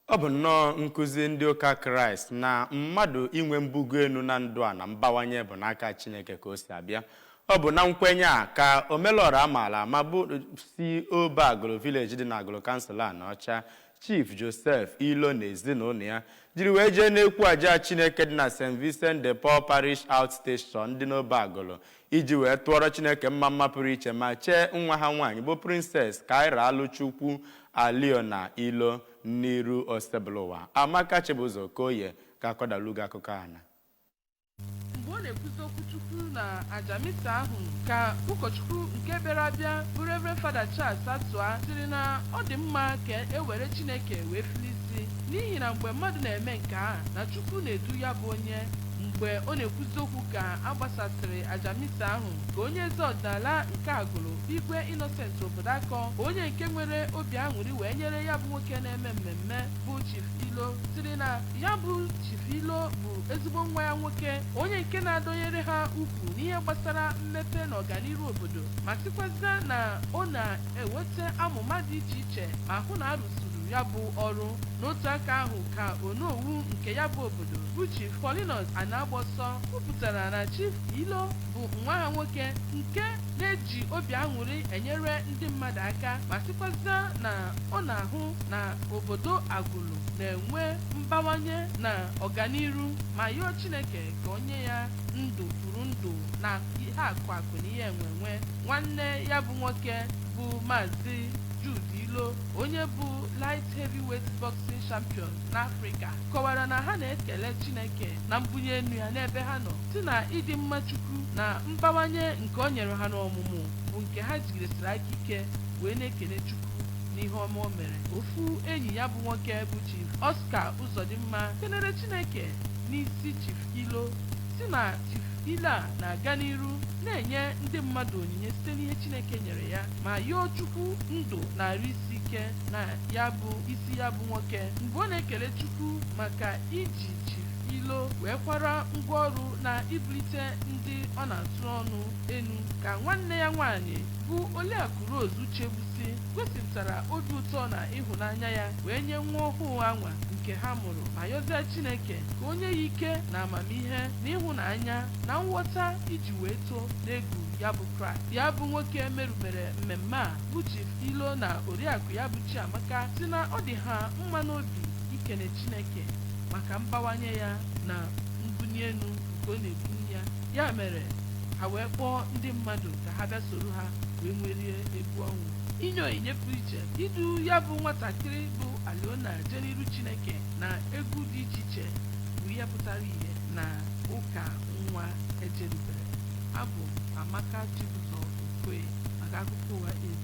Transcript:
Ọ bụ nnọọ nkụzi ndị ụka Kraịst na mmadụ inwe mbugo enu na ndụ a na mbawanye bụ n'aka Chineke ka o si abịa. Ọ bụ na nkwenye a ka Omelọra a maala ama bụ si Obe Agụlụ Village dị n'Agụlụ Kansụl Anaọcha, Chief Joseph Ilo na ezinụlọ ya jiri wee jee n'ekwu aja Chineke dị na St. Vincent de Paul Parish Outstation dị n'Obe Agụlụ iji wee tụọrọ Chineke mma mma pụrụ iche ma chee nwa ha nwaanyị bụ Princess Kaira Alụchukwu Aliona Ilo n'iru Osebụlụwa. Amaka Chibụzọ Okoye ga-akọdalụ gị akụkọ ana. Mgbe ọ na-ekwuzi okwu Chukwu na aja misa ahụ ka ụkọchukwu nke bịara abịa bụ Rev. Fada Charles Atụa sịrị na ọ dị mma ka e were Chineke wee fili isi n'ihi na mgbe mmadụ na-eme nke a na Chukwu na-edu ya bụ onye mgbe ọ na-ekwuzi okwu ka a gbasasịrị aja misa ahụ ka onye eze ọdịnala nke Agụlụ Igwe Innocent Obodoakọ onye nke nwere obi aṅụrị wee nyere ya bụ nwoke na-eme mmemme bụ Chief Ilo sịrị na ya bụ Chief Ilo bụ ezigbo nwa ya nwoke onye nke na-adọnyere ha ukwu n'ihe gbasara mmepe na ọganiru obodo ma sịkwazịa na ọ na-eweta amụma dị iche iche ma hụ na a rụzuru ya bụ ọrụ n'otu aka ahụ ka Onowu nke ya bụ obodo bụ Chief Paulinus Anagbọsọ kwupụtara na Chief Ilo bụ nwa ha nwoke nke na-eji obi aṅụrị enyere ndị mmadụ aka ma sịkwazịa na ọ na-ahụ na obodo Agụlụ na-enwe mbawanye na ọganiru ma yọọ Chineke ka o nye ya ndụ kwuru ndụ na ihe akụ akụ na ihe enwe enwe nwanne ya bụ nwoke bụ Maazị Jude Ilo onye bụ light heavyweight boxing champion n'Afrịka kọwara na ha na-ekele Chineke na mbunye enu ya n'ebe ha nọ sị na ịdị mma Chukwu na mbawanye nke o nyere ha n'ọmụmụ bụ nke ha jigidesiri aka ike wee na-ekele Chukwu n'ihe ọma o mere ofu enyi ya bụ nwoke bụ Chief Oscar Uzodimma kelere Chineke n'isi Chief Ilo sị na Chief Ilo a na-aga n'iru na-enye ndị mmadụ onyinye site n'ihe Chineke nyere ya ma yọọ Chukwu ndụ na arụ isi ike na ya bụ isi ya bụ nwoke mgbe ọ na-ekele Chukwu maka iji Chief Ilo wee kwara ngwa ọrụ na ibulite ndị ọ na-atụ ọnụ enu ka nwanne ya nwaanyị bụ Oliakụ Rose Uchegbusi gosipụtara obi ụtọ na ịhụnanya ya wee nye nwa ọhụụ anwa nke ha mụrụ ma yọzie Chineke ka o nye ya ike na amamihe na ịhụnanya na nghọta iji wee too n'egwu ya bụ Kraịst ya bụ nwoke merubere mmemme a bụ Chief Ilo na oriakụ ya bụ Chiamaka si na ọ dị ha mma n'obi ikene Chineke maka mbawanye ya na mbuni enu nke ọ na-ebuni ya ya mere ha wee kpọọ ndị mmadụ ka ha bịa soro ha wee nwerie egwu ọṅụ inye onyinye pụrụ iche idu ya bụ nwatakịrị bụ Aliona jee n'iru Chineke na egwu dị iche iche bụ ihe pụtara ihe na ụka nwa ejerubere abụ m amaka chibụzọ okoye maka akụkọ ụwa abs